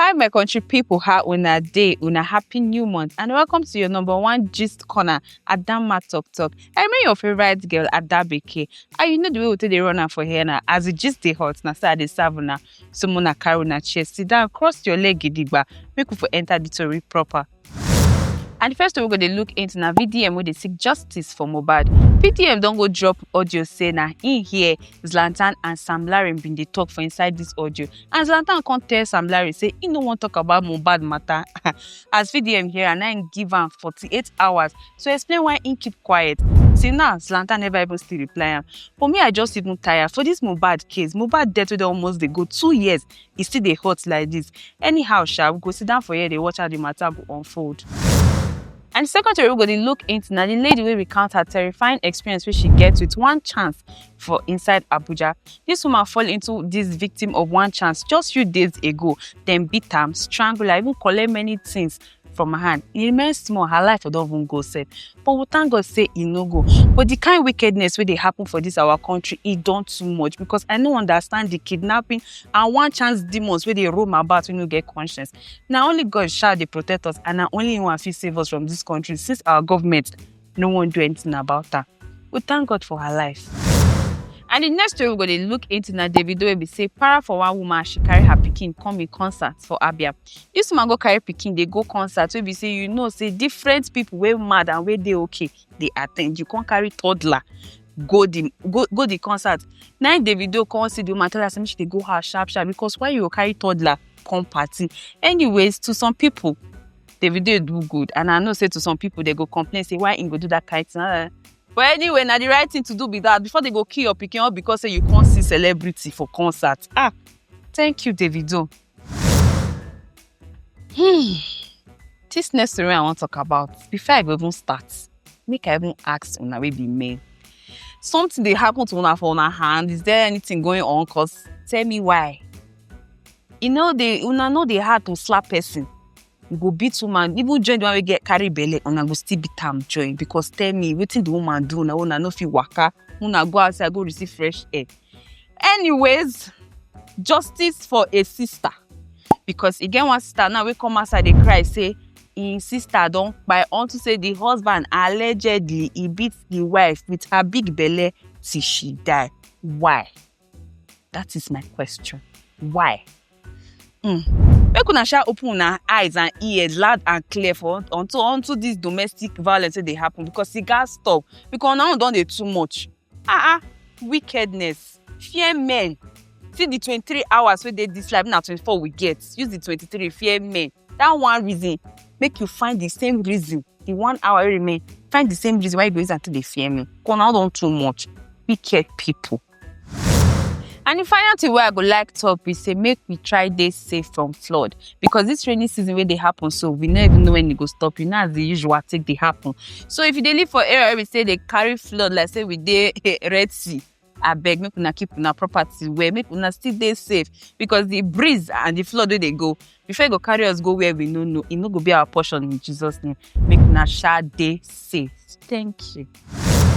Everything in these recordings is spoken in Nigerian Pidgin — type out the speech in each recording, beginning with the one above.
Hi, my country people. How una day? Una happy new month, and welcome to your number one gist corner, Adama Talk Talk. I mean your favorite girl, Adabeke. And you know the way we take the runner for here now. As it just the hot, now start the savuna. So mona carry una chest, sit down, cross your leg, gidigba. Make we for enter the story proper. And the first story we go dey look into na VDM wey dey seek justice for Mohbad. VDM don go drop audio say na im hear Zlatan and Sam Larry bin dey talk for inside this audio. And Zlatan come tell Sam Larry say he no wan talk about Mohbad matter. As VDM hear am, na im give am 48 hours to explain why he keep quiet. Till now, Zlatan never even still reply am. For me, I just even tire. For this Mohbad case, Mohbad death wey don almost dey go two years, e still dey hot like this anyhow sha we go sit down for here dey watch how the matter go unfold and the second story we go dey look into na the lady wey recount her terrifying experience wey she get with one chance for inside abuja this woman fall into this victim of one chance just few days ago dem beat am strangle am even collect many things for my hand e remain small her life for don even go sef but we thank god say e no go but the kind wickedness wey dey happen for this our country e don too much because i no understand the kidnapping and one chance demons wey dey roam about wey no get conscience na only god sha dey protect us and na only him one fit save us from this country since our government no wan do anything about am we thank god for her life and the next story we go dey look into na davido wey be say para for one woman as she carry her pikin come im concert for abia this woman go carry pikin dey go concert wey be say you know say different people wey mad and wey dey okay dey attend you come carry toddler go the go go the concert na im davido come see the woman tell her say make she dey go house sharp sharp because why you go carry toddler come party anyways to some people davido do good and i know say to some people they go complain say why im go do that kind thing ah, but anyway na the right thing to do be that before they go kill your pikin all because say you come see celebrity for concert ah thank you davido. Hmm. this next story i wan talk about before i go even start make i even ask una wey be men something dey happen to una for una hand is there anything going on cause tell me why e no dey una no dey hard to slap person you go beat woman even join the one wey get carry belle una go still beat am join because tell me wetin the woman do una una no fit waka una go outside go receive fresh air anyways justice for a sister because e get one sister now wey come outside dey cry say im sister don kpai unto say the husband allegedly e beat the wife with her big belle till she die why That is my question. Why? Mm. Make una sha open una eyes and ears loud and clear for unto unto this domestic violence wey dey happen because e gats stop because una own don dey too much. Ah ah, wickedness, fear men. See the twenty-three hours wey dey this life, na twenty-four we get. Use the twenty-three, fear men. That one reason, make you find the same reason, the one hour wey remain, find the same reason why you go use am take dey fear men. Because una own don too much. Wicked people. And the final thing where I go like top is say make we try this safe from flood because this rainy season where they happen so we never even know when it go stop. You know as the usual take they happen. So if you dey live for area we say they carry flood like say we dey Red Sea I beg make una keep una property where make una still dey safe because the breeze and the flood where they go Before you go carry us go where we no know, it no go be our portion in Jesus' name. Make una sha day safe. Thank you.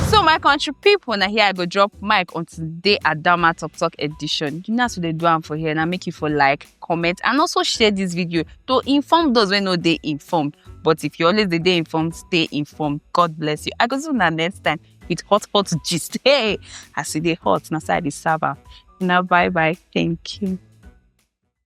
So my country people, now here I go drop mic on today Adama Talk Talk edition. You know what they do am for here. Now make you for like, comment, and also share this video to inform those when no they informed. But if you always the day informed, stay informed. God bless you. I go see you next time with hot hot gist. Hey, I see the hot. Now side is server. Now bye bye. Thank you.